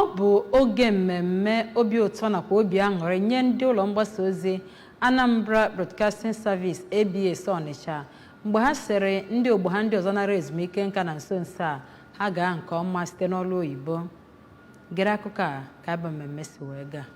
Ọ bụ oge mmemme obi ụtọ nakwa obi aṅụrị nye ndị ụlọ mgbasa ozi Anambra Broadcasting Service, ABS, Ọnịcha mgbe ha sịrị ndị ogbo ha ndị ọzọ nara ezumike nka na nso nso a ha gaa nke ọma site n'ọrụ oyibo. Gere akụkọ a ka ya bụ mmemme si wee gaa.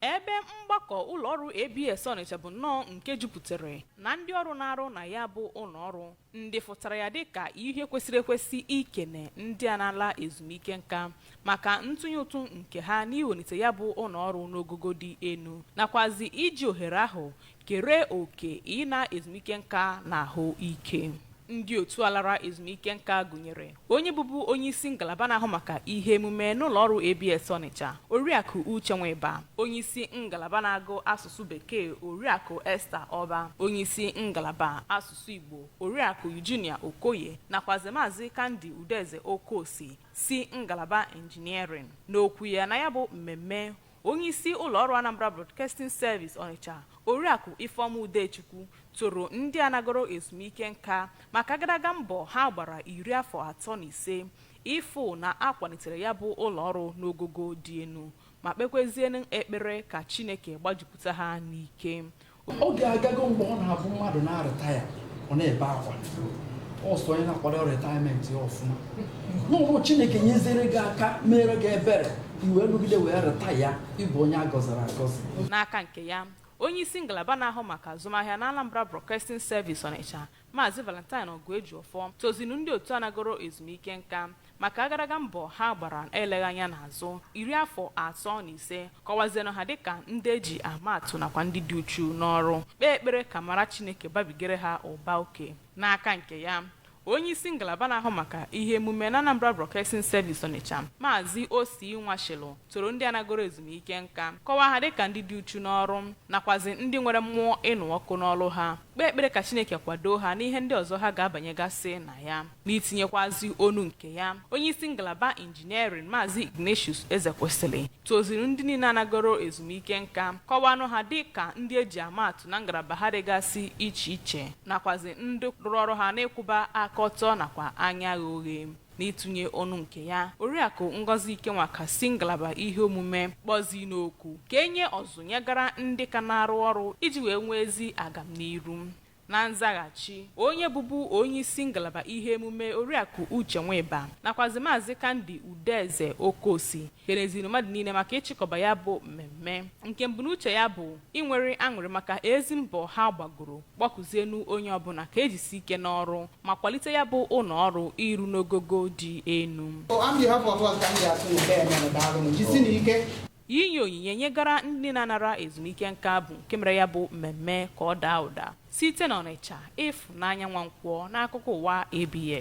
Ebe mgbakọ ụlọọrụ ABS Ọnịcha bụ nnọọ nke jupụtara na ndị ọrụ na-arụ na ya bụ ụlọọrụ ndị fụtara ya dịka ihe kwesịrị ekwesị ikene ndị a na-ala ezumike nka maka ntụnye ụtụ nke ha n'iwelite ya bụ ụlọọrụ n'ogogo dị elu nakwazi iji ohere ahụ kere oke ịna ezumike nka na ahụ ike ndị otu a lara ezumike nka gụnyere onye bụbu onye isi ngalaba na-ahụ maka ihe emume n'ụlọ ọrụ ABS Ọnịcha oriakụ Uche Nwịba onye isi ngalaba na-agụ asụsụ bekee oriakụ Esther Ọba onye isi ngalaba asụsụ Igbo oriakụ Eugenia Okoye nakwazi maazị Kandi Udeze Okosi si ngalaba Engineering n'okwu ya na ya bụ mmemme Onyeisi ụlọọrụ Anambra Broadcasting Service Ọnịcha, Oriakụ Ifeọma Udechukwu toro ndị a nagoro ezumike nka maka agadaga mbọ ha gbara iri afọ atọ na ise ịfụ na a kwalitere ya bụ ụlọọrụ n'ogogo dị elu ma kpekwezienụ ekpere ka Chineke gbajupụta ha n'ike. oge agago mgbe ọ na-abụ mmadụ na-aretire ọ na-ebe akwa ọ sọ onye na-akwadorọ retirement ya ọfụma ọ bụrụ chineke nyezere gị aka meere gị ebere i wee rụgide wee retire ị bụ onye a gọziri agọzi n'aka nke ya onye isi ngalaba na-ahụ maka azụmahịa na anambra broadcasting service ọnịcha Maazị Valentine Oguejiofọ tozinụ ndị otu a nagoro ezumike nka maka agadaga mbọ ha gbara eleghị anya n'azụ iri afọ atọ na ise, kọwazienụ ha dịka ndị e ji ama atụ nakwa ndị dị uchu n'ọrụ, kpee ekpere ka amara Chineke babigere ha ụba oke. N'aka nke ya, onyeisi ngalaba na-ahụ maka ihe emume n'Anambra Broadcasting Service Onitsha, Maazị Osi Nwashịlụ toro ndị a nagoro ezumike nka, kọwaa ha dịka ndị dị uchu n'ọrụ nakwazi ndị nwere mmụọ ịnụ ọkụ n'ọrụ ha. kpee ekpere ka Chineke kwadoo ha n'ihe ndị ọzọ ha ga-abanyegasị na ya. N'itinyekwazi ọnụ nke ya, onyeisi ngalaba Engineering, Maazị Ignatius Ezekwesịlị, toziri ndị niile a nagoro ezumike nka, kọwaanụ ha dị ka ndị e ji ama atụ na ngalaba ha dịgasị iche iche nakwazị ndị rụrụ ọrụ ha n'ịkwụba aka ọtọ nakwa anya ghe oghe. N'ịtụnye ọnụ nke ya, Oriakụ Ngozi Ikenwaka si ngalaba ihe omume kpọzinụ oku ka e nye ọzụzụ nyegara ndị ka na-arụ ọrụ iji wee nwee ezi agamniru. Na nzaghachi, onye bụbu onyeisi ngalaba ihe emume Oriakụ Uche Nwịba nakwazi Maazị Kandi Udeze Okosi keleziri mmadụ niile maka ịchịkọba ya bụ mmemme nke mbunuche ya bụ inwere aṅụrị maka ezi mbọ ha gbagoro kpọkuzienu onye ọbụna ka ejisi ike n'ọrụ ma kwalite ya bụ ụnọ ọrụ iru n'ogogo dị enu. O, on behalf of us ka m ji atụ nke a mere daalụnụ jisinụ ike Inye onyinye nyegara ndị na-anara ezumike nka bụ nke mere ya bụ mmemme ka ọ daa ụda site n'Ọnịcha, Ịfụnanya Nwankwọ n'akụkọ ụwa ABS.